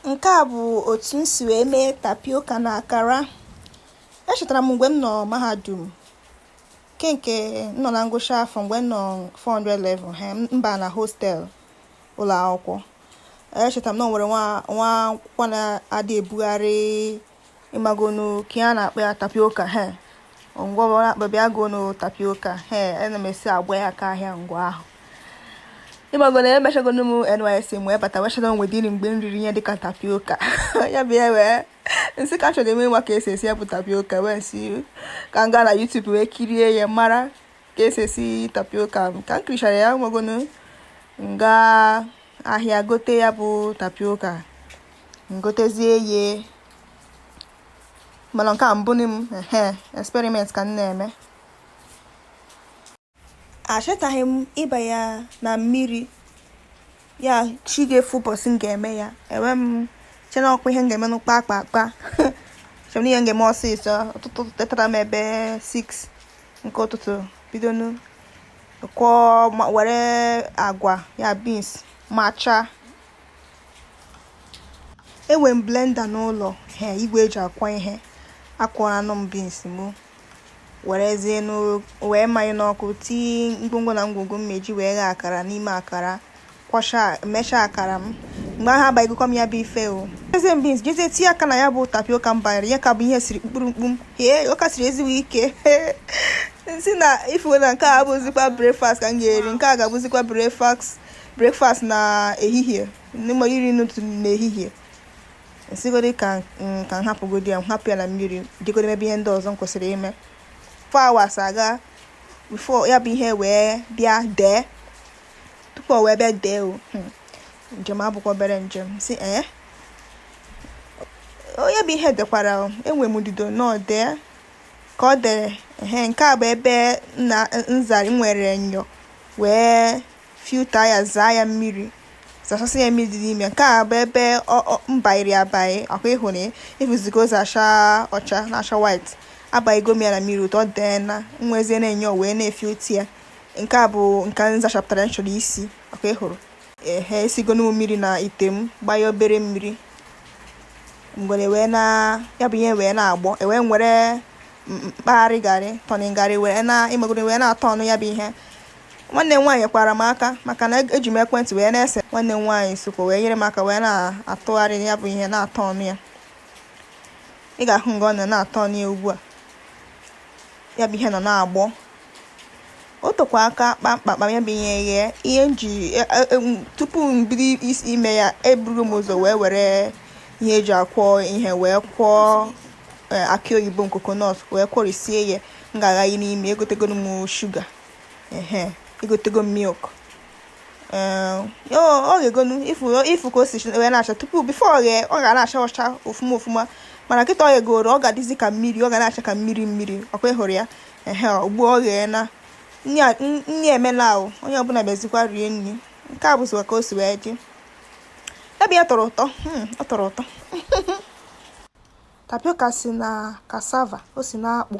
nke a bụ otu m si wee mee tapioka na akara echetara m mgbe m nọ mahadum nke nke m nọ na ngwụcha afọ mgbe m nọ 400 level ha m ba na hostel ụlọ akwụkwọ echetara m na o nwere nwa nwa akwụkwọ na-adị ebugharị ịmagonu ka a na-akpọ ya tapioka he ngwa ọ na-akpọ bịa gonu tapioka he ana m esi agba ya aka ahịa mgbe ahụ ịmagonu emechagonu m nysc m wee bata wechara o nwedịrị mgbe m riri ihe dịka tapioka ya bụ ya wee nsị ka chọrọ eme nwa ka esi esi ya bụ tapioka wee sị ka m gaa na YouTube wee kirie ya mara ka esi esi tapioka m ka m kirichara ya ịmagonu nga ahịa gote ya bụ tapioka ngotezie ye mana nke a mbụ m ehe experiment ka m na-eme achetaghị m ịba ya na mmiri na chi ga-efo ụbọchị m ga-eme ya m wee chee na ọkwa ihe m ga-eme n'ụkpa akpa akpa chọrọ ihe m ga-eme ọsịsọ ụtụtụ tetara m ebe 6 nke ụtụtụ bidonu kụọ were agwa ya beans macha enwe m blender n'ụlọ he igwe eji akwọ ihe akwọranụ m beans m werezie wee manye n'ọkụ tinye ngwongwo na ngwongwo m meji wee ghe akara n'ime akara kwọcha mechaa akara m mgbe ahụ abaịgokwa m ya bụ ife o eze m beans jezie tinye aka na ya bụ tapioka m banyere ya ka bụ ihe siri mkpụrụ mkpụrụ hee ọ ka siri ezigbo ike sị na ifuwe na nke a abụzikwa breakfast ka m ga-eri nke a ga-abụzikwa breakfast breakfast na ehihie n'ime nri ụtụtụ n'ehihie nsigodi ka ka m hapụgodi ya m hapụ ya na mmiri jegodi mebe ihe ndị ọzọ m kwesịrị ime four hours agaa before ya bụ ihe wee bịa dee tupu o wee bịa dee o hmm. njem abụkwa obere njem sị ee ya bụ ihe dekwara enwe m ndidi o na o dee ka ọ dere ehe nke a bụ ebe nzari were nyọ wee filter ya zaa ya mmiri zachasị ya mmiri dị n'ime nke a bụ ebe mbairi abaị ọkwa ịhụ na ịfụzigo ụzọ acha ọcha na-acha white abaịgo m ya na mmiri ụtọ dee na wezie nyọ wee na-efilter ya nke a bụ nke m zachapụtara m chọrọ isi ọkwa ịhụrụ ehe esigonu m mmiri na ite m gbanye obere mmiri mgbe wee na ya bụ ihe wee na-agbọ e wee were mkpagharị garị turning garị wee na ịmagonu wee na-aturn ya bụ ihe nwanne m nwaanyị kwara m aka maka na eji m ekwentị wee na-ese nwanne m nwaanyị sokwa wee nyere m aka wee na-atụgharị ya bụ ihe na-aturn ya ị ga-ahụ nga ọ nọ na-aturn ya ugbu a ya bụ ihe nọ na-agbọ o tokwa aka kpamkpamkpam ya bụ ihe ghee ihe m ji e, e, e, tupu m bido isi ime ya eburu m ụzọ wee were ihe eji akwọ ihe wee kwọọ akị oyibo coconut wee kwọrisie ya m ga-aghanye n'ime egotego m shuga ehe egotego m milk o ghegonu ị fụ ka o si wee na-acha tupu before o ghee ọ ga na-acha ọcha ofuma ofuma mana kịta o ghegoro ọ ga-adịzi ka mmiri ọ ga na-acha ka mmiri mmiri ọkwa ị hụrụ ya ehe ugbu o ghee na nri emela ahụ onye ọbụla bịazikwa rie nri nke a bụzikwa ka o si wee dị ebe ya tọrọ ụtọ hmm, ọ tọrọ ụtọ tapioca si na cassava o si na akpụ